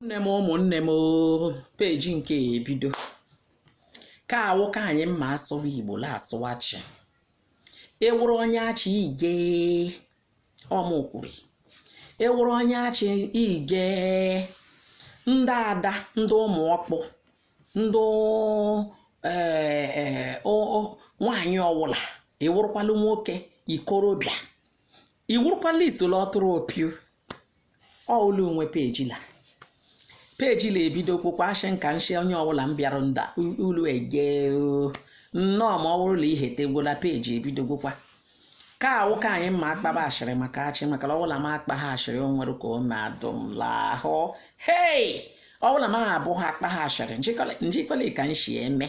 nne m ụmụnne m oo, peji nke a ebido ka awụ ka anyị mma asụwa igbo la asụwa achị ị wụrụ onye achị ige ọmụkwuri ị wụrụ onye achị ige ndị ada ndị ụmụ ọkpụ ndị ee, o- o- nwaanyị ọwụla ị wụrụkwala nwoke ikorobịa ị wụrụkwala isoro ọtụrụ opiu ọụlọ onwe peji la peji la ebido kwụkwa ashị nka nshi onye ọwụla bịara nda ulu eje nnọọ ma ọ wụrụ la ihe tegwola peji ebido gwụkwa ka awụ ka anyị mma akpaba ashịrị maka achị maka la ọwụla m akpa ha ashịrị o nwere ka o na-adụ m l'ahụ hei ọwụla m abụ ha akpa ha ashịrị njikọla ka nshi eme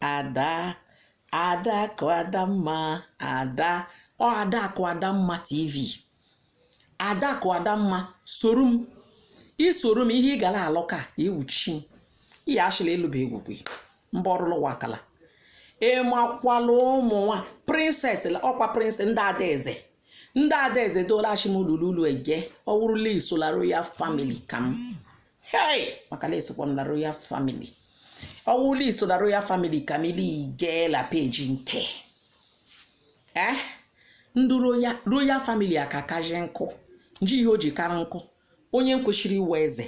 ada adakụ adamma ada ọ adakụ adamma tv adakụ adamma soro m isoro m ihe ị gara alụ ka iwuchi m ihe achịla ịlụba egwugwe mba ọrụlụ wakala ịmakwala ụmụ nwa princess ọ kwa princess ndị adaeze ndị adaeze doola achịmụlụlulu ege ọ wụrụ la i so la royal family ka m hei maka la esokwa m la royal family ọwụla i so la royal family ka m ili jee la peji nke eh ndị royal royal family a ka kaji nkụ nji ihe o ji kara nkụ onye kwesịrị ịwụ eze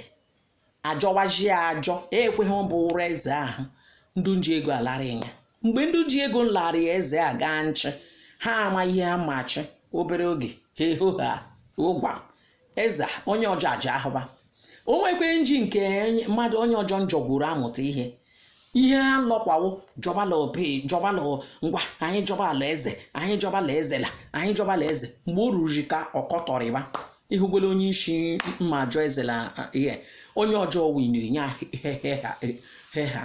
ajọwaji ya ajọ ekweghị ọ bụrụ eze ahụ ndị nji ego alara ya mgbe ndị ji ego nlarị ya eze a gaa nchị ha ama ihe ha machi obere oge ha eho ha ụgwa eze onye ọjọọ aja ahụba o nwekwe nji nke mmadụ onye ọjọ njọ gwuru amụta ihe ihe ha lọkwawo jọbala obi jọbala ngwa anyị jọba ala eze anyị jọba ala eze la anyị jọba ala eze mgbe o ruru ka ọkọtọrịba ịhụgwele onye isi mma ajọ eze la ihe onye ọjọọ winiri nye he ha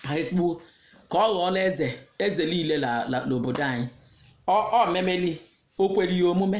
ha ekpuo ka ọ ghọọla eze eze niile n'obodo anyị ọ memeli o kwere ya omume